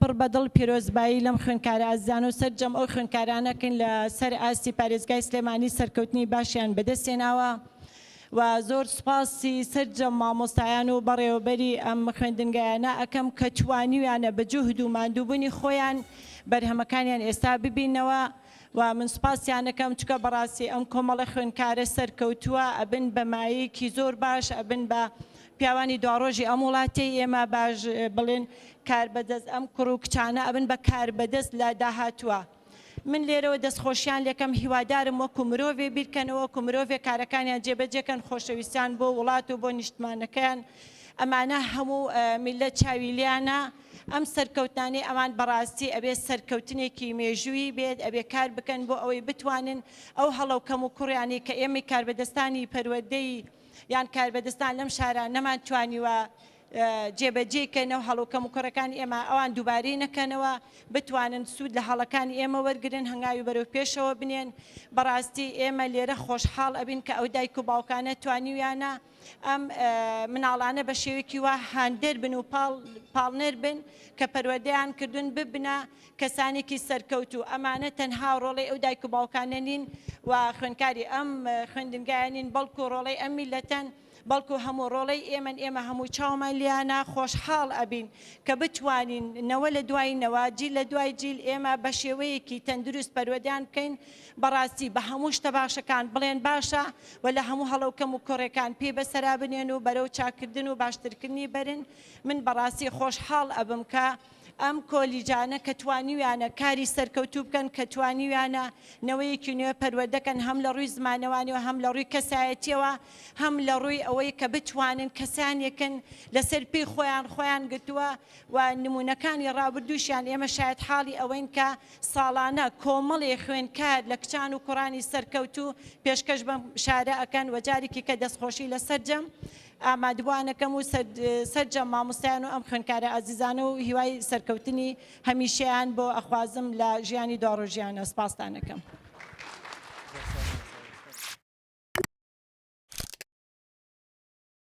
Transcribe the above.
پڕ بە دڵ پیرۆزبایی لەم خوێندکارە ئازیزانە و سەرجەم ئەو خوێندکارانە دەکەین لە سەر ئاستی پارێزگای سلێمانی سەرکەوتنی باشیان بەدەست هێناوە و زۆر سوپاسی سەرجەم مامۆستایان و بەڕێوەبەری ئەم خوێندنگایانە ئەکەم کە توانیویانە بە جوهد و ماندووبوونی خۆیان بەرهەمەکانیان ئێستا ببینەوە و من سوپاسیان ئەکەم چونکە بەڕاستی ئەم کۆمەڵە خوێندکارە سەرکەوتووە ئەبن بە مایەیەکی زۆر باش ئەبن بە پیاوانی دواڕۆژی ئەم وڵاتەی ئێمە باش بڵێن کاربەدەست ئەم کوڕ و کچانە ئەبن بە کاربەدەست لە داهاتووە. من لێرەوە دەستخۆشیان لێکەم هیوادارم وەکو مرۆڤێ بیرکەنەوە وەکو مرۆڤێ کارەکانیان جێبەجێکەن خۆشەویستیان بۆ وڵات و بۆ نیشتمانەکەیان ئەمانە هەموو میللەت چاوی لێیانە ئەم سەرکەوتنانەی ئەمان بەڕاستی ئەبێ سەرکەوتنێکی مێژوویی بێت ئەبێ کار بکەن بۆ ئەوەی بتوانن ئەو هەڵە و کەموکوڕیانەی کە ئێمەی کاربەدەستانی پەروەردەی یان کاربەدەستان لەم شارە نەمان توانیوە جێبەجێی کەنەوە هەڵو کەم و کوڕەکانی ئێمە ئەوان دووبارەی نەکەنەوە بتوانن سوود لە هەڵەکانی ئێمە وەرگن هەنگاوی بەرەو پێشەوە بنێن بەڕاستی ئێمە لێرە خۆشحاڵ ئەبین کە ئەو دایک و باوکانە توانیویانە ئەم مناڵانە بە شێوێکی وا هاندەر بن و پاڵ پاڵنەر بن کە پەروەدەیان کردوون ببنە کەسانێکی سەرکەوتوو ئەمانە تەنها ڕۆڵەی ئەو دایک و باوکانە نین و خوێندکاری ئەم خوێندنگایە نین بەڵکو ڕۆڵەی ئەم میلەتەن بەڵکو هەموو ڕۆڵەی ئێمەن ئێمە هەموو چاومان لیانە خۆشحاڵ ئەبین کە بتوانین نەوە لە دوای نەوە جیل لە دوای جیل ئێمە بە شێوەیەکی تەندروست پەروەدەیان بکەین بەڕاستی بە هەموو شتە باشەکان بڵێن باشە و لە هەموو هەڵە و کەم و کۆڕیەکان پێی بەسەرا بنێن و بەرەو چاککردن و باشترکردنی بەرن من بەڕاستی خۆشحاڵ ئەبم کە ئەم کۆلیجانە کە توانیویانە کاری سەرکەوتوو بکەن کە توانیویانە نەوەیەکی نوێ پەروەدەکەن هەم لە ڕووی زمانەوانیەوە هەم لە ڕووی کەسایەتیەوە هەم لە ڕووی ئەوەی کە بتوانن کەسانێکن لەسەر پێی خۆیان خۆیان گرتووە و نمونونەکانی ڕابردووشیان ئێمە شاید حاڵی ئەوەین کە ساڵانە کۆمەڵی خوێنکار لە کچان و کوڕانی سەرکەوتوو پێشکەش بەم شارە ئەەکەن وەجارێکی کە دەستخۆشی لە سەررجەم ئامادبوانەکەم و سەرجەم مامۆستایان و ئەم خوێندکارە ئازیزانە و هیوای سەرکەوتنی هەمیشەیان بۆ ئەخوازم لە ژیانی دواڕۆژیانە سپاستان ئەکەم.